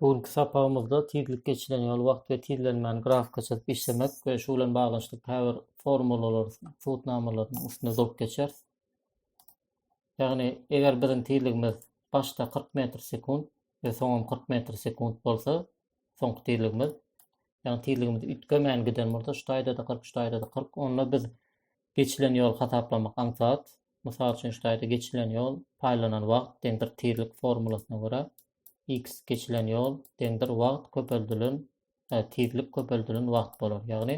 Bu günki sapagymyzda tizlik geçilen ýol, wagt we tizlenmäni grafika çyzyp işlemek we şu bilen baglanyşykly käbir formulalary, subutnamalarynyň üstünde durup geçeris. Ýagny eger biziň tizligimiz başda kyrk metr sekunt we soňam kyrk metr sekunt bolsa, soňky tizligimiz, ýagny tizligimiz üýtgemän giden bolsa, şu taýda-da kyrk, şu taýda-da kyrk, onda biz Geçilen ýoly hasaplamak aňsat. Mysal üçin şu taýda geçilen ýol paýlanan wagt deňdir tizlik formulasyna görä x geçilen ýol deňdir wagt köpeldilen tizlik köpeldilen wagt bolar. Ýagny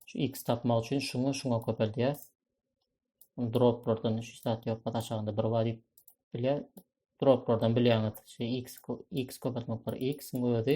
şu x tapmak üçin şuňa şuňa köpeldýäs. Droplardan hiç zat ýok, hat aşagynda bir bar diýip bilýär. Droplardan bilýäňiz, şu x x köpeltmek bir x-iň özi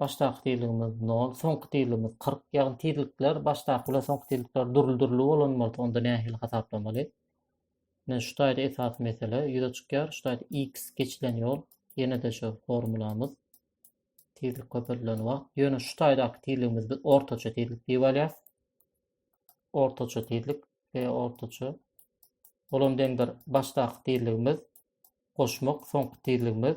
Başdaky tizligimiz 0, soňky tizligimiz 40. Ýagny tizlikler başdaky bilen soňky tizlikler dürli-dürli bolan bolsa, onda nähili hasaplamaly? Ine şu taýda esasy mesele ýüze çykýar. Şu taýda x geçilen ýol, ýene-de şu formulamyz. Tizlik köpeldilen wagt. Ýöne şu taýdaky tizligimiz biz ortaça tizlik diýip alýas. Ortaça tizlik ve ortaça. Olam deňdir başdaky tizligimiz goşmak, soňky tizligimiz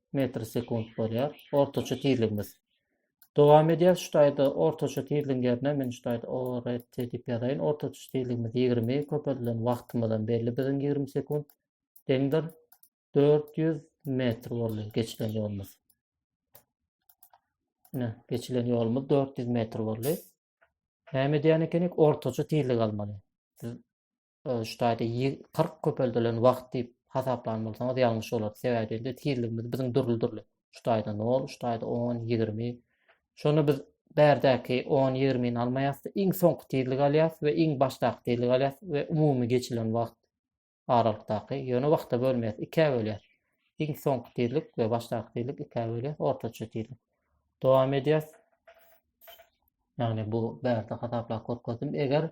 metr sekunt bolýar. Ortaça tizligimiz. Dowam edýär şu taýda ortaça tizligiň ýerine men şu taýda ORT diýip ýazaýyn. Ortaça tizligimiz 20 köpeldilen wagtymyz hem belli biziň 20 sekunt deňdir 400 metr boldy geçilen ýolumyz. Ine, geçilen ýolumyz 400 metr boldy. Näme edýän ekenik? Ortaça tizlik almaly. Siz şu taýda kyrk köpeldilen wagt diýip hasaplan bolsaňyz ýalňyş bolardy. Sebäbi diýende tizligimiz biziň dürli-dürli. Şu taýda nol, şu taýda on, ýigrimi. Şonda biz bärdäki on, ýigrimini almaýas-da, iň soňky tizligi alýas we iň başdaky tizligi alýas we umumy geçilen wagt aralykdaky, ýöne wagta bölmeýäs, ikä bölýäs. Iň soňky tizlik we başdaky tizlik ikä bölýäs, ortaça tizlik. Dowam edýäs. Ýagny bu bärde hasaplap görkezdim. Eger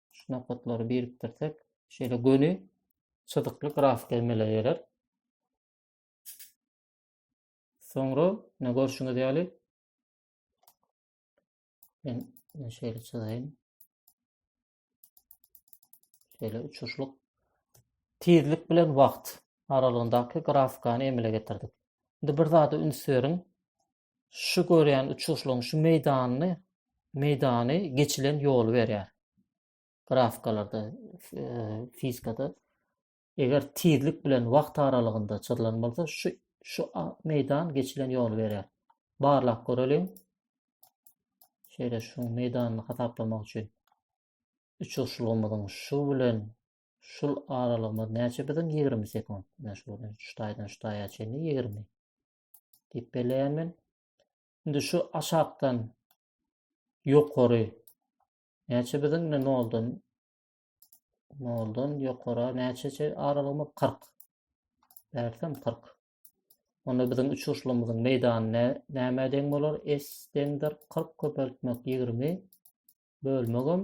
şu nokatlary birikdirsek, şeýle göni çyzykly grafika emele geler. Soňra ne görşüňiz ýaly men şeýle çyzaýyn. Şeýle uçuşlyk tizlik bilen wagt aralygyndaky grafikany emele getirdik. Indi bir zada üns beriň. şu görýän uçuşlaryň şu meýdanyny meýdany geçilen ýoly berýär. Grafikalarda, fizikada eger tizlik bilen wagt aralygynda çyzylan bolsa, şu şu meýdan geçilen ýoly berýär. Barlap göreliň. Şeýle şu meýdanyny hasaplamak üçin uçuşlygymyzyň şu bilen şul aralygymyz näçe biziň 20 sekund. Şu şu taýdan şu taýa çenli 20. diýip belleýän men. Indi şu aşakdan ýokary näçe biziň indi noldan noldan ýokara näçe aralygymy 40 bärsem 40 onda biziň uçuşlarymyzyň meýdany näme deň bolar s deňdir 40 köpeltmek 20 bölmegim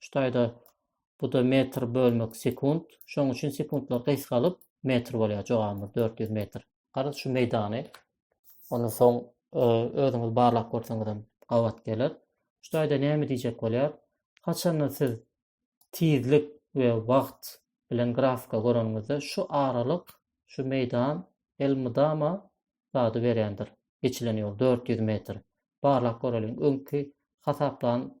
Şu taýda bu da metr bölmek sekunt. Şoň üçin sekuntlar gysgalyp metr bolýar jogabymyz 400 metr. Garaz şu meýdany ondan soň e, özüňiz barlap görseňiz hem gabat geler. Şu taýda näme diýjek bolýar? Haçanda siz tizlik we wagt bilen grafika göreniňizde şu aralyk, şu meýdan elmydama zady berýändir. Geçilen ýol 400 metr. Barlap göreliň. Öňki hasaplan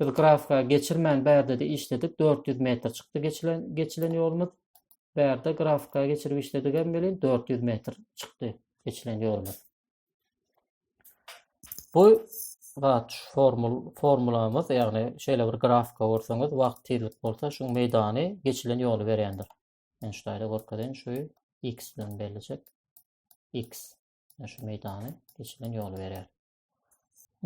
Biz grafika geçirmän bärde-de işledik. 400 metr çykdy geçilen geçilen ýolumyz. Bärde grafika geçirip işledik hem welin 400 metr çykdy geçilen ýolumyz. Bu zat formul formulamyz, ýagny şeýle bir grafika görseňiz, wagt tizlik bolsa, şu meýdany geçilen ýoly berýändir. Men şu taýda görkezeýin, şu x bilen bellijek. x şu meýdany geçilen ýoly berýär.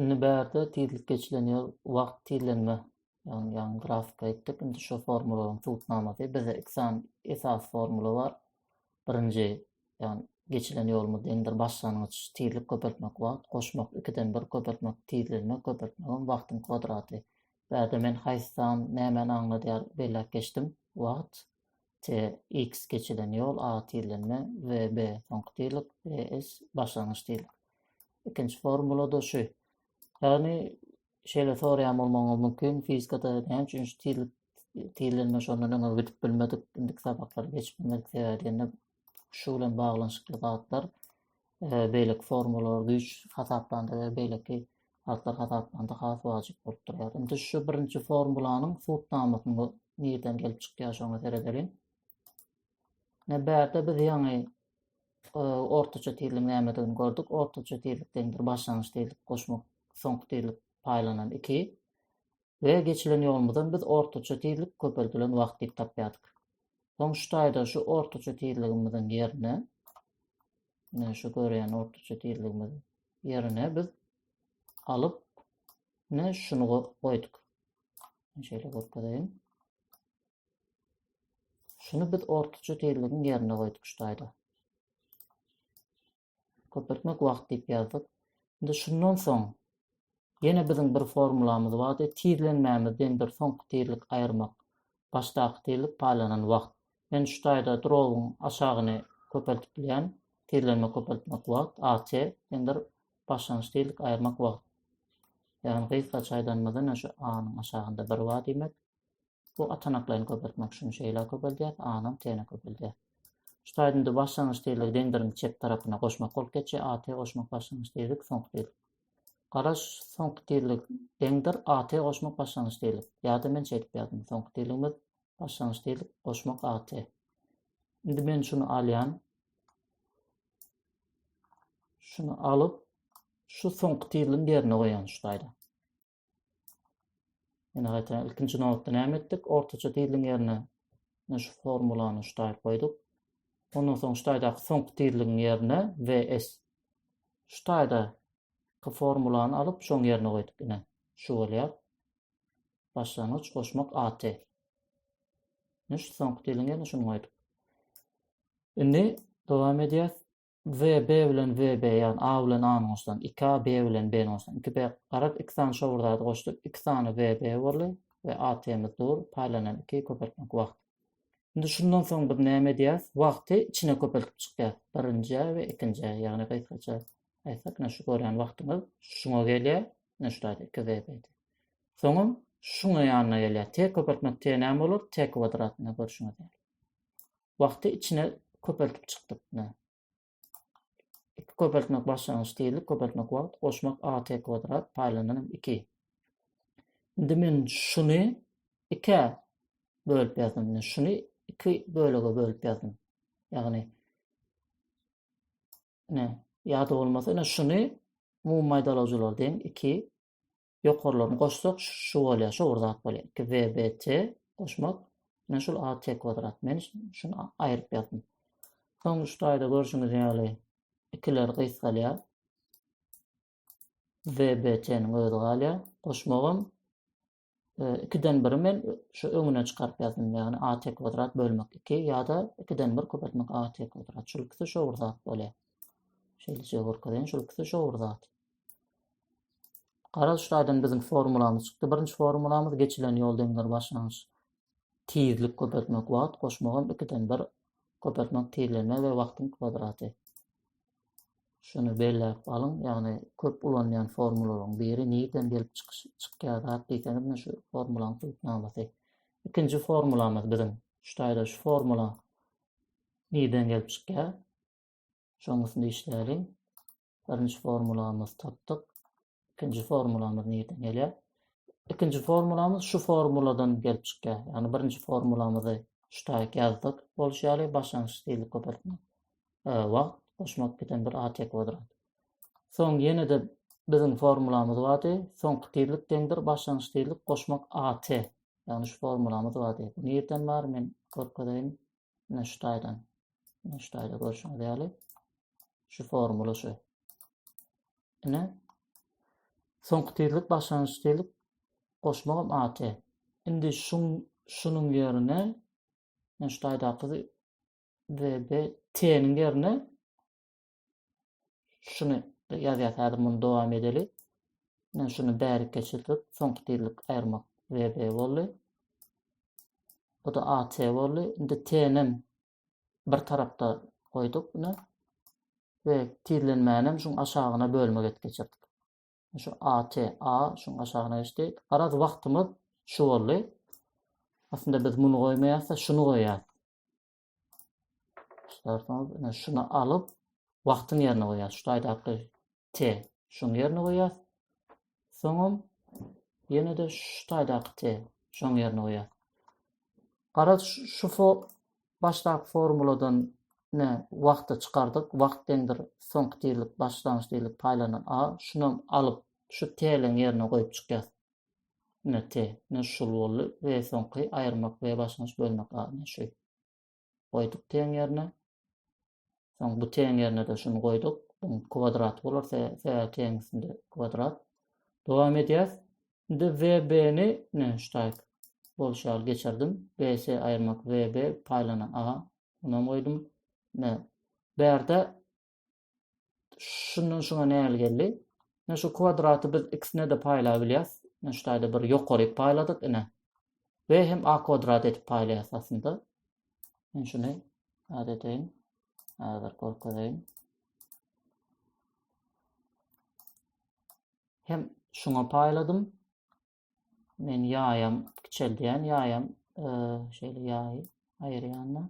Indi bärde tizlik geçilen ýol wagt tizlenme. Ýagny ýaňy grafika etdik. Indi şu formulaň subutnamasy bizde iki sany esas formula bar. Birinji, ýagny geçilen ýolumyz deňdir başlangyç tizlik köpeltmek wagt goşmak ikiden bir köpeltmek tizlenme köpeltmegiň wagtyň kwadraty. Bärde men haýsy san nämäni aňladýar belläp geçdim. Wagt TX geçilen ýol A tizlenme, VB soňky tizlik, BS başlangyç tizlik. Ikinji formulada şu. Ýagny şeýle soraýan bolmagyňyz mümkin, fizikada näme üçin şu tizlik tizlenme şondan öňe gidip bilmedik, indiki sapaklary geçip bilmedik sebäbi diýende şu bilen baglanyşykly zatlar beýleki formalar güýç hasaplandy we beýleki atlar hasaplandy has wajyp bolup durýar. Indi şu birinji formulanyň subnamasyny nirden gelip çykýar şoňa seredeliň. Ne bärde biz ýaňy e, ortaça tizligiň nämedigini gördük. Ortaça tizlik deňdir başlangyç tizlik goşmak soňky tizlik paýlanan 2. we geçilen ýolumyzdan biz ortaça tizlik köpeldilen wagt diýip tapýardyk. Soň şu taýda şu ortaça tizligimiziň ýerine ine şu görýän ortaça tizligimiz ýerine biz alyp ine şuny goýduk. Şeýle görkezeýin. Şuny biz ortaça tizligiň ýerine goýduk şu taýda. köpeltmek wagt diýip ýazdyk. Indi şundan soň ýene biziň bir formulamyz bardy. Tizlenmämiz diýen bir soňky tizlik aýyrmak. Başdaky tizlik paýlanan wagt. Men şu taýda drowyň aşagyny köpeltip bilýän. Tizlenme köpeltmek wagt, AT, diýendir başlangyç tizlik aýyrmak wagt. Ýagny gysgaça aýdanymyzda şu A-nyň aşagynda bir bar diýmek. Bu atanaklaýyn köpeltmek üçin şeýle köpeldýär, A-nyň T-ne köpeldýär. Şu taýdynda başlangyç tizligi deňdirimiň çep tarapyna goşmak bolup geçýär, AT goşmak başlangyç tizlik, soňky tizlik. Garaş, soňky tizlik deňdir, AT goşmak başlangyç tizlik. Ýa-da men şeýdip ýazdym, soňky tizligimiz başlangyç tizlik goşmak AT. Indi men şuny alýan. Şuny alyp, şu soňky tizligiň ýerine goýýan şu taýda. Ýene gaýtadan ilkinji nobatda näme etdik? Ortaça tizligiň ýerine şu formulany şu taýy goýduk. Ondan soň şu taýdaky soňky tizligiň ýerine VS. Şu taýda ki formulany alyp şoň ýerine goýduk ine. Şu bolýar. Başlangyç goşmak AT. Ne şu soňky tizligiň ýerine şuny goýduk. Indi dowam edýär. Z, B bilen Z, B ýagny A bilen A-ny goşsaň, iki A, B bilen B-ni goşsaň, iki B. Garaz, iki sany şo bir zady goşdup, iki sany Z, B boldy we AT-miz dur, paýlanan iki köpeltmek wagt. Indi şundan soň biz näme edýäs? Wagty içine köpeltip çykýas. Birinjä we ikinjä, ýagny gysgaça aýtsak, ine şu görýän wagtymyz şuňa gelýär, ine şu zat iki Z, B. Soňam şuňa ýanyna gelýär. T köpeltmek T näme bolar? T kwadrat, ine görşüňiz ýaly. wagty içine köpeltip çykdypna. Iki köpeltmek başlangyç tizlik, köpeltmek wagt, goşmak a t kwadrat, paýlananam iki. Indi men şuny ikä bölüp ýazdym. Şuny iki bölege bölüp ýazdym. Ýagny ne ýada bolmasa, ne şuny umumy maýdalawjylar deň iki ýokarlaryny goşsak şu bolýar şu bir zat bolýar iki w b t goşmak ine şul a t kwadrat men şuny aýryp ýazdym soňky şu taýda görşüňiz ýaly ikiler gysgalýar w b t niň özi galýar goşmagam ikiden biri men şu öňüne çykaryp ýazdym. Ýagny AT kwadrat bölmek 2 ýa-da 2-den 1 köpeltmek AT kwadrat. Şul ikisi şowur zat bolýar. Şeýleçe görkezýän şul ikisi şowur zat. Garaz, şu taýdan biziň formulamyz çykdy. Birinji formulamyz geçilen ýol deňdir başlangyç. Tizlik köpeltmek wagt goşmagam 2-den 1 köpeltmek tizlenme we wagtyň kwadraty. Şuny belläp alyň, ýagny köp ulanýan formulalaryň biri nirden gelip çykyş çykýar zat diýseňiz, men şu formulanyň subutnamasy. Ikinji formulamyz biziň şu taýda şu formula nirden gelip çykýar? Şonuň üstünde işläliň. Birinji formulamyzy tapdyk. Ikinji formulamyz nirden gelýär? Ikinji formulamyz şu formuladan gelip çykýar. Ýagny birinji formulamyzy şu taýyk ýazdyk. Bolşy ýaly başlangyç stilli köpeltme. Wagt goşmak biten bir AT kwadrat. Soň ýene-de biziň formulamyz bardy. Soňky tizlik deňdir başlangyç tizlik goşmak AT. Ýagny şu formulamyz bardy. Bu nirden bar? Men görkezeýin. Ine şu taýdan. Ine şu taýda görşüňiz ýaly şu formula şu. Ine soňky tizlik başlangyç tizlik goşmagam AT. Indi şun şunuň ýerine ine şu taýdaky VBT-niň ýerine Şuny ýazýas häzir muny dowam edeli. Men şuny bärik geçirdik. Soňky tizlik aýyrmak VB boldy. Bu da AT boldy. Indi TNM bir tarapda goýduk buna. Ve tizlenmänem şuň aşagyna bölmek et geçirdik. Şu AT, A şuň aşagyna geçdi. Garaz wagtymyz şu boldy. Aslında biz muny goýmaýas-da, şuny goýýas. Şartnama bilen şuny alyp, wagtyň ýerine goýýas. Şu taýdaky T şoň ýerine goýýas. Soňam ýene-de şu taýdaky T şoň ýerine goýýas. Garaz şu fo başdaky formuladan ne wagty çykardyk. Wagt deňdir soňky tizlik başlangyç tizlik paýlanan A. Şunam alyp, şu T-leň ýerine goýup çykýas. Ine te, ne şul boldy we soňky aýyrmak we başlangyç bölmek adyny şu goýduk teň ýerine. Soň bu teň ýerine-de şuny goýduk. Bunun kwadraty bolar, sebäbi teň üstünde kwadrat. Dowam edýäs. Indi VB-ni ne ştaýk bolşy ýaly geçirdim. BS aýyrmak VB paýlanan A. Bunu hem goýdum. Ne. Bärde şundan şuna näl geldi? Ine şu kwadraty biz x ne de paýlap bilýäs. Ine şu taýda bir ýokaryk paýladyk ine. Ve hem a kwadrat edip paýlaýas aslynda. Men şuny ad edeýin. Häzir görkezeýin. Hem şuňa paýladym. Men ýaýam kiçeldýän, ýaýam e, şeýle ýaýy aýyrýan-da.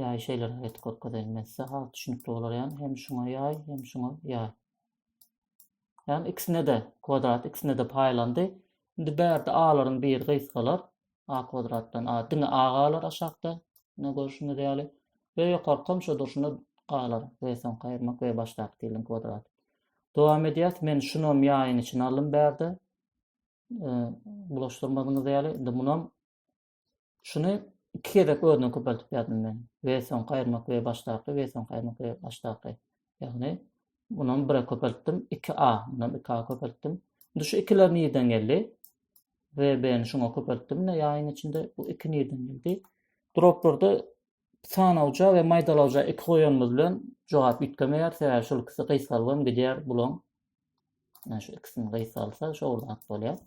Ýaý şeýleräk etip görkezeýin men size has düşünikli bolar ýaly hem şuňa ýaý hem şuňa ýaý. Ýagny ikisine de kwadrat ikisine de paýlandy. Indi bärde alaryň biri gysgalar. A kwadratdan a diňe a galar aşakda. Ne görşüňiz ýaly. Ve ýokarkam şo durşuna galar. Ve soň kaýyrmak ve başdaky diliň kwadrat. Dowam edýäs. Men şunam ýaýyň içine aldym bärde. Bulaşdyrmadyňyz ýaly. Indi munam Şuny iki gezek özünden köpeltip ýazdym men. We soňky aýyrmak we başdaky we soňky aýyrmak we başdaky. Ýagny munam bire köpeltdim. 2a, munam 2a köpeltdim. Indi şu ikiler nirden geldi? Ve beni şuňa köpeltdim. Ne ýaýyň içinde bu iki nirden geldi? Droplarda sanawja we maýdalawja iki goýanymyz bilen jogap üýtgemeýär. Sebäbi şol ikisi gysgalgam gidýär bulaň. Yani şu ikisini gysgalsa şowurdan bolýar.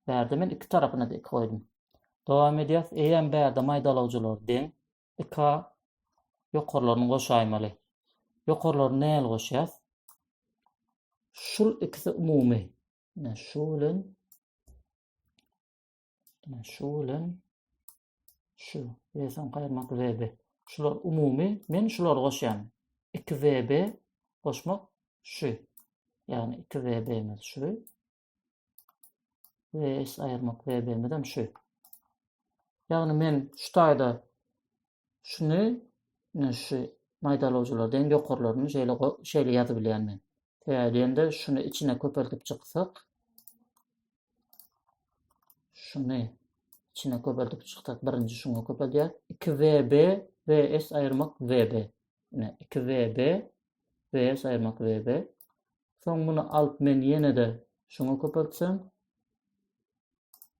Bärde men iki tarapyna da iki goýdum. Dowam edýäs. Eýýäm bärde maýdalawjylar deň. Iki a ýokarlaryny goşaýmaly. Ýokarlaryny näl goşýas? Şul ikisi umumy. Ine şu bilen Ine şu bilen şu. Eýsem gaýyrmak VB. Şular umumy. Men şular goşýan. 2 VB goşmak şu. Ýagny 2 VB-miz şu. we s aýyrmak wb hem şu. Ýagny men şu taýda şuny ine şu maýdalawjylardan ýokarlaryny şeýle şeýle ýazyp bilýän men. Sebäbi diýende şuny içine köpeltip çyksak şuny içine köpeltip çyksak birinji şuňa köpelýär. 2 VB VS aýyrmak VB. Ine 2 VB VS aýyrmak VB. Soň muny alyp men ýene-de şuňa köpeltsem.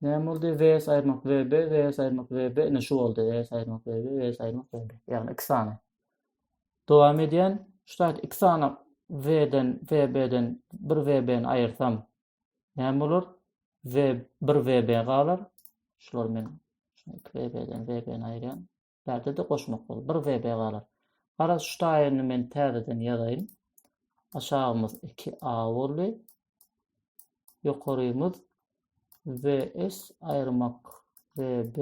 Näme boldy? VS aýyrmak VB, VS aýyrmak VB. Ine şu boldy. VS aýyrmak VB, VS aýyrmak VB. Ýagny iki sany. Dowam edýän. Şu taýt iki sany V-den, VB-den bir VB-ni aýyrsam näme bolar? V bir VB galar. Şular men iki VB-den VB-ni aýyrýan. Bärde-de goşmak bol. Bir VB galar. Garaz şu taýyny men täzeden ýazaýyn. Aşagymyz 2A boldy. Ýokarymyz VS aýyrmak VB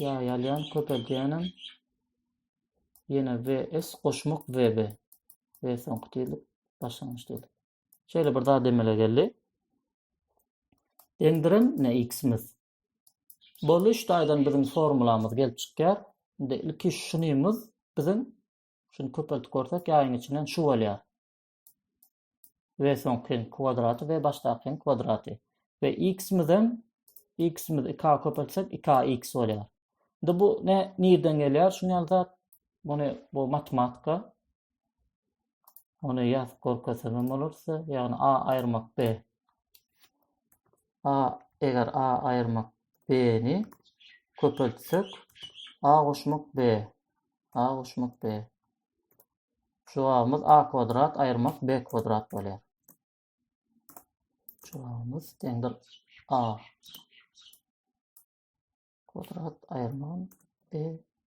ýa ýalýan köpeldýänem ýene VS goşmak VB ve soňky diýilip başlangyç diýilip. Şeýle bir zat emele geldi. Deňdiren ne x-imiz. Boluş taýdan biziň formulamyz gelip çykýar. Indi ilki şunymyz biziň şuny köpeltip görsek ýaýyň içinden şu bolýar. Ve soňky kwadraty ve başdaky kwadraty. Ve x-imiz hem x-imiz 2 köpeltsek 2x bolýar. Indi bu ne nirden gelýär? Şuny ýaly zat. Muny bu matematika Ony ýazyp görkezsem hem bolarsa, ýagny A aýyrmak B. A eger A aýyrmak B-ni köpeltsek, A goşmak B. A goşmak B. Jogabymyz A kwadrat aýyrmak B kwadrat bolýar. Jogabymyz deňdir A. Kwadrat aýyrmak B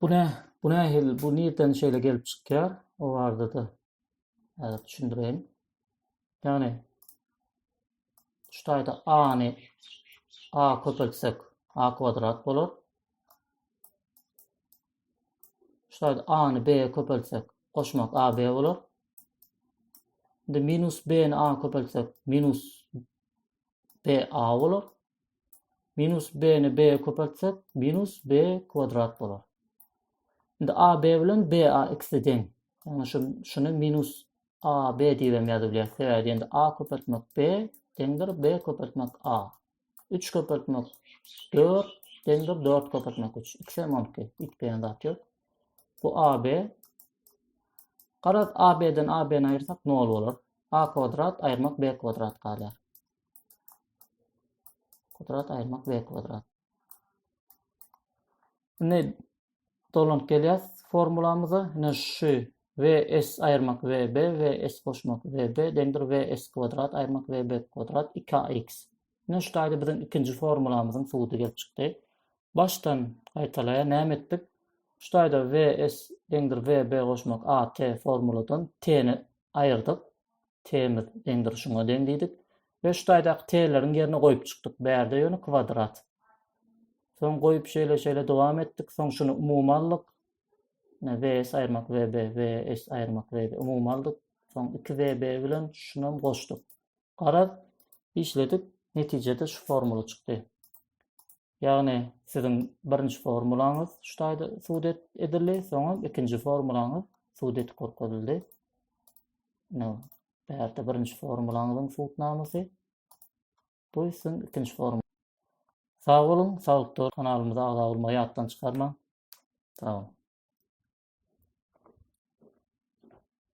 Bu ne? Bu ne hil? Bu nirden şeýle gelip çykýar? O barada-da häzir düşündireýin. Ýagny şu taýda a-ny a köpeltsek a kwadrat bolar. Şu taýda a-ny b köpeltsek goşmak ab bolar. Indi minus b-ni a köpeltsek minus b a bolar. Minus b ni b köpeltsek minus b kwadrat bolar. Şimdi a b bilen b a ikisi deň. Yani şu, şunu minus a b diýip hem ýazyp bilýäris. Sebäbi endi a köpeltmek b deňdir b köpeltmek a. 3 köpeltmek 4 deňdir 4 köpeltmek 3. Ikisi hem 12. Üýtgeýän zat ýok. Bu a b. Garaz a b-den a b-ni aýyrsak 0 bolar. A kwadrat aýyrmak B kwadrat galýar. Kwadrat aýyrmak B kwadrat. Indi dolanyp gelýäs formulamyza. Indi şu VS aýyrmak VB, VS goşmak VB deňdir VS kwadrat aýyrmak VB kwadrat 2AX. Indi şu taýda biziň ikinji formulamyzyň suwudy gelip çykdy. Başdan gaýtalaýa näme etdik? Şu taýda VS deňdir VB goşmak AT formuladan T-ni aýyrdyk. T-miz deňdir şuňa deň diýdik. We şu taýdaky T-leriň ýerine goýup çykdyk. Bärde ýöne kwadrat. Soň goýup şeýle şeýle dowam etdik. Soň şuny umumy aldyk. Ne VS aýyrmak VB, VS aýyrmak VB umumy aldyk. Soň 2 VB bilen şuny hem goşduk. Garaz, işledik. Netijede şu formula çykdy. Ýagny siziň birinji formulaňyz şu taýda sud edildi, soňam ikinji formulaňyz sud edip görkezildi. No. Bärde birinji formulaňyzyň sudnamasy. Bu sizin ikinji formula. Sag boluň, saglykda kanalymyza agza bolmagy ýatdan çykarmaň. Sag boluň.